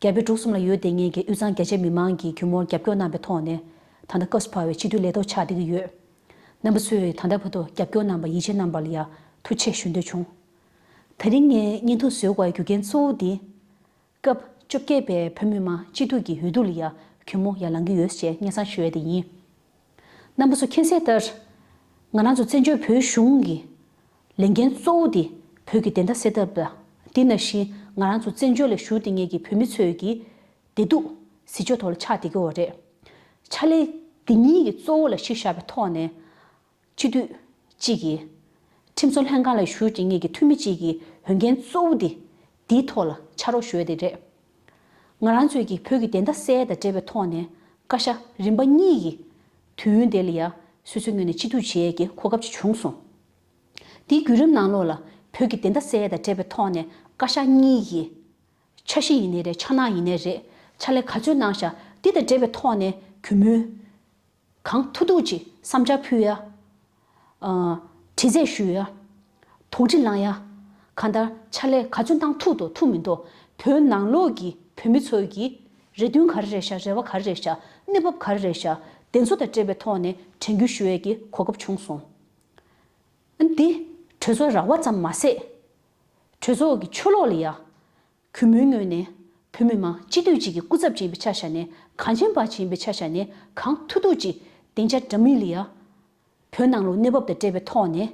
རྒྱལ་པོའི་འབྲུག་གསུམ་ལ་ཡོད་དེ་ངེད་ཀྱི་དབུས་གཙང་རྒྱ་ཆེ་མི་མང་གིས་གུས་མོར་རྒྱབ་སྐྱོར་གནང་པའི་ཐོག་ནས། ད་ལྟ་སྐབས་སུ་བབས་བའི་ཕྱི་དྲོའི་ལས་ཐོག་ཆགས་བསྡད་ཀྱི་ཡོད། རྣམ་པ་ཚོས་ད་ལྟ་བར་དུ་རྒྱབ་སྐྱོར་གནང་བར་ཡིད་ཆེས་གནང་བར་ཡང་ཐུགས་ཆེ་ཞུ་འདོད་བྱུང། ད་རིང་ངས་སྙན་ཐོ་བཟོས་བར་རྒྱུ་རྐྱེན་གཙོ་བོ་འདི། སྐབས་བཅོ་བརྒྱད་པའི་བོད་མི་མང་སྤྱི་འཐུས་ཀྱི་འོས་བསྡུ་ལ་ཡང་གུས་མོ་ཡར་ལངས་ཀྱི་ཡོད་ཅེས་སྙན་གསང་ཞུ་ཡས་དེ་ཡིན། རྣམ་པ་ཚོ་མཁྱེན་གསལ་ལྟར། ང་རང་ཚོ་བཙན་བྱོལ་བོད་གཞུང་གི་ལས་འགན་གཙོ་བོ་དེ་བོད་ཀྱི་བདེན་མཐའ་སེལ་ཐབས། དེ་ནང་བཞིན་ང་རང་ཚོ་བཙན་བྱོལ་ལ་བཞུགས་དེ་ངེད་ཀྱི་བོད་མི་ཚོའི་ཀྱི། བདེ་སྡུག། གཟི་བརྗོད་ཐོག་ལ་ཕྱག་འདེབས་ཀྱི་འོ་རེད། ཕྱག་ལས། འདི་གཉིས་ཀྱི་གཙོ་བོ་ལ་གཞི་བཞག་པའི་ཐོག་ནས། སྤྱི་འཐུས། གཅིག་གིས། ཁྲིམས་བཟོ་ལྷན་ཁང་ལ་བཞུགས་ཀྱི་ངེད་ཀྱི་འཐུས་མི་གཅིག་གིས་འོས་འགན་གཙོ་བོ་དེ། འདིའི་ཐོག་ལ་ཕྱག་རོགས་ཞུ་ཡ་དེ་རེད། ང་རང་ཚོས་ཀྱིས་བོད་ཀྱི་བདེན་མཐའ་གསལ་དང་བྲལ་བའི་ཐོག་ནས་བཀའ་ཤག་རིམ་པ་གཉིས་ཀྱིས་དུས་ཡུན་དེ་ལ་ཡ་སོད་སོད་ངོས་ནས་སྤྱི་འཐུས་བྱེད་ཡ་གྱི་གོ་སྐབས་ཅིག་བྱུང་སོང། འདིའི་བརྒྱུད་རིམ་ནང་ལོགས་ལ་བོད་ཀྱི་བདེན་མཐའ་གསལ་དང་བྲལ་བའི་ཐོག་ནས་བཀའ་ཤག་གཉིས་ཀྱིས། ཆ་བཞི་ཡིན་ནའི་རེད་ཆ་ནག་ཡིན་ནའི་རེད་ཕྱག་ལས་ག་ཚོད་གནང་བཞག་འདི་དང་འབྲེལ་བའི་ཐོག་ནས་གུས་མོའི། གང་ཐུགས་རྡོ་རྗེ་བསམ་སྦྱར་ཕུལ། དྲི་བཟས་ཞུ། དོགས་འདྲི་བསླང། གང་ལྟར་ཕྱག་ལས་ག་ཚོད་འདང་ཐུག་དོ་ཐུག་མི་འདོ་བོད་ནང་ལོག་གི་བོད་མི་ཚོའི་གི་རེ་འདུན་ག་རེ་རེད་ཤག་རེ་བ་ག་རེ་རེད་ཤག་གནས་བབ་ག་རེ་རེད་ཤག་བདེན་འཚོ་དང་འབྲེལ་བའི་ཐོག་ནས་དྲན་སྐུལ་ཞུ་ཡས་ཀྱི་གོ་སྐབས་བྱུང་སོང། འདི། གྲོས་ཚོགས་ར་བ་ཙམ་མ་ཟད། གྲོས་ཚོགས་ཀྱི་ཆོས་ལོག་ལ་ཡ། གུས་མོའི་ངོས་ནས། བོད་མི་མང་སྤྱི་འཐུས་གཅིག་གི་སྐུ་ཚབ་བྱིན་པའི་ཆ་བཞག་ནས་གངས་ཅན་པ་བྱིན་པའི་ཆ་བཞག་ནས་གངས་ཐུག་ཐུག་ཅིག་བདེན་ཆ་འདྲ་མིན་ལི་ཡ། བོད་ནང་ལུགས་གནས་བབ་དང་བྲལ་བའི་ཐོག་ནས།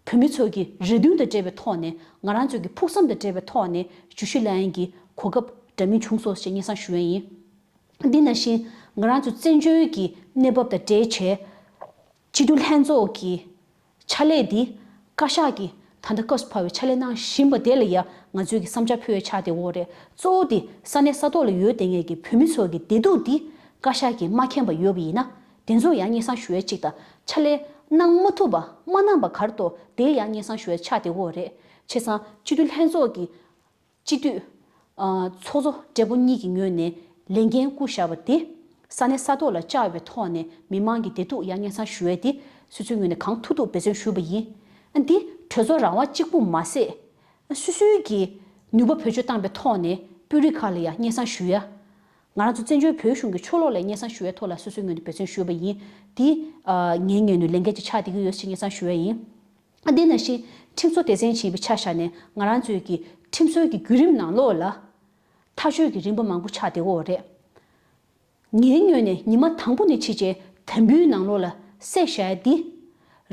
བོད་མི་ཚོ་གི་རེ་འདུན་དང་བྲལ་བའི་ཐོག་ནས་ང་རང་ཚོ་གི་ཕུགས་བསམ་དང་བྲལ་བའི་ཐོག་ནས་ཇུ་ཤི་ལ་ཡན་གྱི་གོ་སྐབས་འདྲ་མིན་བྱུང་སོ་ཞེས་སྙན་གསང་ཞུ་ཡ་ཡིན། འདི་ན་བཞིན་ང་རང་ཚོ་བཙན་བྱོལ་གྱི་གནས་བབ་དང་འབྲེལ་བྱས། སྤྱི་འཐུས་ལྷན་ཚོགས་ཀྱི་ཕྱག་ལས་འདི་བཀའ་ཤག་གིས་ད་ལྟ་བཀའ་ཟུར་ཕར་བའི་ཕྱག་ལས་གནང་བཞིན་པ་དེ་ལ་ཡང་ང་ཚོས་ཀྱི་བསམ་འཆར་ཕུལ་བའི་ཕྱག་དེ་འོག་རེད་གཙོ་བོ་དེ་ས་གནས་ས་ཐོག་ལ་ཡོད་ལྟས་ངན་གྱི་བོད་མི་ཚོ་གྱི་བདེ་སྡུག་འདི་བཀའ་ཤག་གིས་མ་མཁྱེན་པ་ཡོད་པ་ཡིན་ན་དེ་ཚོ་ཡང་སྙན་གསང་ཞུ་བའི་ཅིག་དང་ཕྱག་ལས་གནང་མ་ཐུབ་པ་མ་གནང་པ་གར་གཏོགས་དེ་ཡང་སྙན་གསང་ཞུ་བའི་ཕྱག་དེ་འོག་རེད་ཆེ་ཚང་སྤྱི་འཐུས་ལྷན་ཚོགས་ཀྱི། སྤྱི་འཐུས། ཚོགས་གཙོ་སྦྲེལ་པོ་གཉིས་ཀྱི་ངོས་ནས་ལས་འགན་བསྐུར་བཞག་པ་དེ། ས་གནས་ས་ཐོག་ལ་བཅའ་འོས་པའི་ཐོག་ནས་མི་མང་གི་བདེ་སྡུག་ཡང་སྙན་གསང་ཞུ་འོས་ཏེ་སུད་སུའི་ངོས་ནས་གང་ཐུབ་ཐུབ་འབད་བརྩོན་ཞུས་པ་ཡིན། འདི་གྲོས་ཚོགས་རང་དབང་གཅིག་པུ་མ་ཟད། སུད་སུའི་གི་ནུས་པ་བེད་སྤྱོད་བཏང་པའི་ཐོག་ནས་དཔོན་རིགས་ཁག་ལ་ཡང་སྙན་གསང་ཞུ་ཡ། ང་རང་ཚོ་བཙན་བྱོལ་བོད་གཞུང་གི་ཆོ་ལོ་ལ་སྙན་གསང་ཞུ་ཡའི་ཐོག་ལ་སུད་སུའི་ངོས་ནས་འབད་བརྩོན་ཞུས་པ་ཡིན། འདི། ངའི་ངོས་ནས་ལས་འགན་གཅིག་ཆགས་བསྡད་ཀྱི་ཡོད་ཅེས་སྙན་གསང་ཞུ་ཡ་ཡིན། དེ་ནང་བཞིན་ཁྲིམས་བཟོ་སྡེ་ཚན་ཆེན་པོའི་ཆ་བཞག་ནས་ང་རང་ཚོའི་གི་ཁྲིམས་བཟོ་གི་བརྒྱུད་རིམ་ནང་ལོགས་ལ། ཐག་གཅོད་གི་རིམ་པ་མང་པོ་ཆགས་དེ་འོག་རེད། ངའི་སྨྱོས་ནས་ཉི་མ་དང་པོ་ནས་ཕྱི་རྗེས་དམ་འབུལ་ནང་ལོགས་ལ་བསད་བཞག་འདི།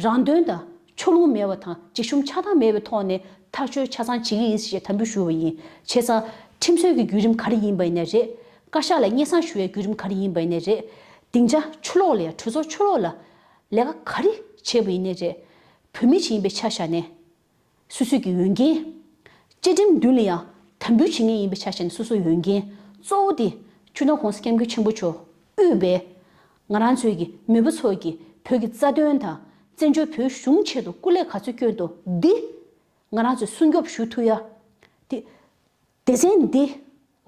རང་དོན་དང་ཕྱོགས་ལྷུང་མེད་བ་དང་འཇིགས་ཞུམ་ཆགས་སྡང་མེད་པའི་ཐོག་ནས་ཐག་གཅོད་ཆ་ཚང་བྱེད་གི་ཡིན་ཞེས་དམ་འབུལ་ཞུ་བ་ཡིན་བྱས་ཙང་ཁྲིམས་བཟོ་གི་བརྒྱུད་རིམ་ག་རེ་ཡིན་པ་ནས་རེད། བཀའ་ཤག་ལ་སྙན་གསང་ཞུ་བའི་བརྒྱུད་རིམ་ག་རེ་ཡིན་པ་ནས་རེད། སྡིངས་ཆ་ཆུ་ལོག་ལ་ཡང་གྲོས་ཚོགས་ཆུ་ལོག་ལ། ལས་ཀ་ག་རེ་བྱས་པ་ཡིན་ནས་རེད། བོད་མི་ཞིག་ཡིན་པའི་ཆ་བཞག་ནས། སུད་སུད་ཀྱི་འོས་འགན། བཅའ་ཁྲིམས་མདུན་ལ་ཡང་དམ་འབུལ་བྱེད་ངེས་ཡིན་པའི་ཆ་བཞག་ནས་སོ་སོའི་འོས་འགན་གཙོ་བོ་དེ་ཆུ་ནང་གོང་ས་སྐྱབས་མགོན་ཆེན་པོ་མཆོག་དབུས་པས། ང་རང་ཚོའི་གི་མེས་པོ་ཚོ་གི་བོད་ཀྱི་རྩ་དོན་དང་བཙན་བྱོལ་བོད་གཞུང་ཆེད་དུ་སྐུ་ལས་ག་ཚོད་སྐྱོན་འདུག་འདི། ང་རང་ཚོས་སྲུང་སྐྱོབ་ཞུ་ཐུ་ཡ། དེ། སྡེ་ཚན་འདིས་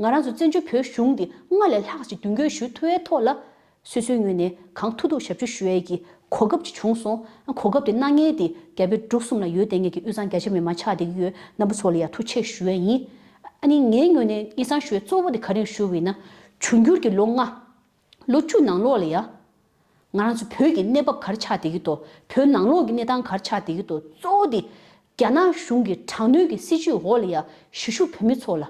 ང་རང་ཚོ་བཙན་བྱོལ་བོད་གཞུང་འདི་སྔར་ལས་ལྷག་ཅིག་མདུན་སྐྱོད་ཞུ་ཐུབ་བའི་ཐོག་ལ། སོ་སོའི་ངོས་ནས་གང་ཐུབ་ཐུབ་ཞབས་ཞུ་ཞུ་ཡས་ཀྱི་གོ་སྐབས་ཅིག་བྱུང་སོང་ཨ་གོ་སྐབས་དེ་གནང་ངེས་ཏེ་རྒྱ་བོད་འབྲུག་གསུམ་ལ་ཡོད་བསྡད་ངེས་ཀྱི་དབུས་གཙང་རྒྱ་ཆེ་མི་མང་ཆགས་བསྡད་ཀྱི་ཡོད་སྣམ་བུ་ཚོ་ལ་ཡང་ཐུགས་ཆེ་ཞུ་ཡས་ཡིན། ཨ་ནི་ངའི་ངོས་ནས་ངེད་ཚང་ཞུ་ཡས་གཙོ་བོ་དེ་ག་རེ་ཞུ་འི་ན། འབྱུང་འགྱུར་གྱི་ལོ་ལྔ། ལོ་བཅུ་ནང་ལོགས་ལ་ཡ། ང་རང་ཚོ་བོད་ཀྱི་གནས་བབ་གར་ཆགས་བསྡད་ཀྱི་ཐོག་བོད་ནང་ལོགས་ཀྱི་གནས་སྟངས་གར་ཆགས་བསྡད་ཀྱི་ཐོག་གཙོ་བོ་དེ། རྒྱ་ནག་གཞུང་གི་དྲག་གནོན་གྱི་སྲིད་བྱུས་འོག་ལ་ཡ་ཞུ་ཞུ་བོད་མི་ཚོ་ལ།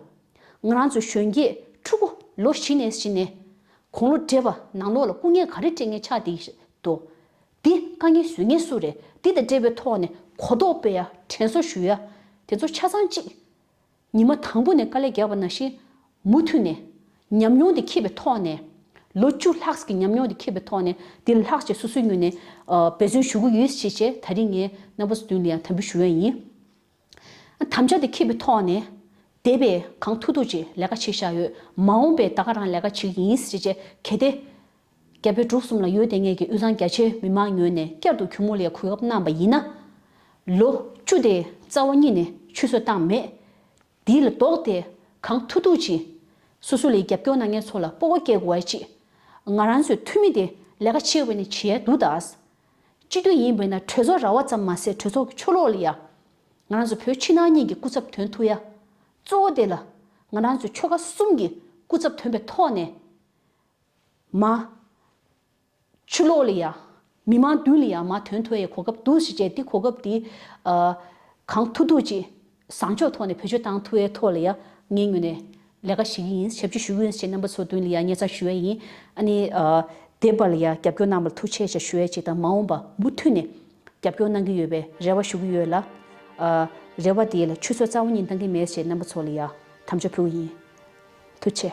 ང་རང་ཚོ་གཞོན་སྐྱེས་ཕྲུ་གུ་ལོ་བཞི་ནས་བཞི་ནས་གོང་ལོ་བགྲེས་པ་ནང་ལོགས་ལ་སྐུ་ངལ་ག་རེ་སྤྲད་ངེས་ཆགས་བསྡད་ཀྱི་ཐོག་དེ་དཀའ་ངལ་བཟོད་ངེས་སུ་རེད་དེ་དང་འབྲེལ་བའི་ཐོག་ནས་གོ་རྟོགས་སྤེལ་ཡ་དྲན་གསོ་ཞུ་ཡ་དེ་ཚོ་ཆ་ཚང་གཅིག་ཉི་མ་དང་པོ་ནས་དཀའ་ལས་རྒྱག་པ་ན་བཞིན། མུ་མཐུད་ནས། ཉམས་མྱོང་དེ་ཁེབས་པའི་ཐོག་ནས། ལོ་བཅུ་ལྷག་གི་ཉམས་མྱོང་དེ་ཁེབས་པའི་ཐོག་ནས་དེ་ལ་ལྷག་བཅས་སོ་སོའི་ངོས་ནས། འབད་བརྩོན་ཞུ་གི་ཡོད་ཅེས་བཅས་ད་རིང་ངས་རྣམ་པ་སོ་བདུན་ལ་ཡང་དམ་འབུལ་ཞུ་ཡ་ཡིན། དམ་བཅའ་དེ་ཁེབས་པའི་ཐོག་ནས། འདས་པའི་གང་ཐུག་ཐུག་ཅིག་ལས་ཀ་བྱེད་བཞག་ཡོད། མ་འོངས་པའི་ད་ག་རང་ལས་ཀ་བྱེད་ཀྱི་ཡིན་ཅེས་བཅས་གལ་ཏེ། རྒྱ་བོད་འབྲུག་གསུམ་ལ་ཡོད་དེ་ངེད་ཀྱི་དབུས་གཙང་རྒྱ་ཆེའི་མི་མང་ཉོན་ནས་བསྐྱར་དུ་གུང་མོ་ལའི་གོས་ཁབ་བསྣམས་པ་ཡིན་ན། ལོ་བཅུ་དེའི་རྩ་བ་གཉིས་ནས་ཆུད་ཟོས་བཏང་མེད། དེ་ལ་ལྡོག་སྟེ་གང་ཐུག་ཐུག་ཅིག། སུ་སུ་ལའི་རྒྱབ་སྐྱོར་ན་ངེད་ཚོ་ལ་སྤོ་བོ་སྐྱེ་དགོས་བ་ཅིག། ང་རང་ཚོའི་འཐུས་མི་དེ་ལས་ཀ་ཆེ་བས་ནི་བྱེད་ཡ་འདུག་ད། སྤྱི་འཐུས་ཡིན་བས་ན་གྲོས་ཚོགས་ར་བ་ཙམ་མ་ཟད་གྲོས་ཚོགས་ཀྱི་ཆོ་ལོག་ལ་ཡ། ང་རང་ཚོ་བོད་ཕྱི་ནང་གཉིས་ཀྱི་སྐུ་ཚབ་དོན་ཐུག་ཡ། གཙོ་བོ་དེ་ལ། ང་རང་ཚོའི་ཆོལ་ཁ་གསུམ་གྱི་སྐུ་ཚབ་དོན་པའི་ཐོག་ནས། མ། ཆུ་ལོག་ལ་ཡ། མི་མང་བདུན་ལ་ཡ་མ་དོན་ཐོ་ཡའི་གོ་སྐབས་འདུག་ཞེས་བྱས་ཏེ་གོ་སྐབས་དེ། གང་ཐུག་ཐུག་ཅིག། བཟང་ཕྱོགས་ཐོག་ནས་བོད་ཆོས་དང་ཐུ་བའི་ཐོག་ལ་ཡ། ངའི་ངོས་ནས། ལས་ཀ་བྱེད་ཀྱི་ཡིན་ཞབས་ཕྱི་ཞུ་གི་ཡིན་ཞེས་རྣམ་པ་ཚོ་བདུན་ལ་ཡ་བརྙས་ཚར་ཞུ་བས་ཡིན། ཨ་ནི། དེབ་པ་ལ་ཡ་རྒྱབ་སྐྱོར་གནང་བར་ཐུགས་ཆེ་ཞེས་ཞུ་བས་ཅིག་དང་མ་འོངས་པ་མུ་མཐུད་ནས། རྒྱབ་སྐྱོར་གནང་གི་ཡོད་པའི་རེ་བ་ཞུ་གི་ཡོད་ལ། རེ་བ་དེའི་ལ་ཆུ་ཚོད་རྩ་བ་གཉིས་འདང་གི་མེད་ཞེས་རྣམ་པ་ཚོ་ལ་ཡ། དམ་བཅའ་ཕུལ་གྱི་ཡིན། ཐུགས་ཆེ།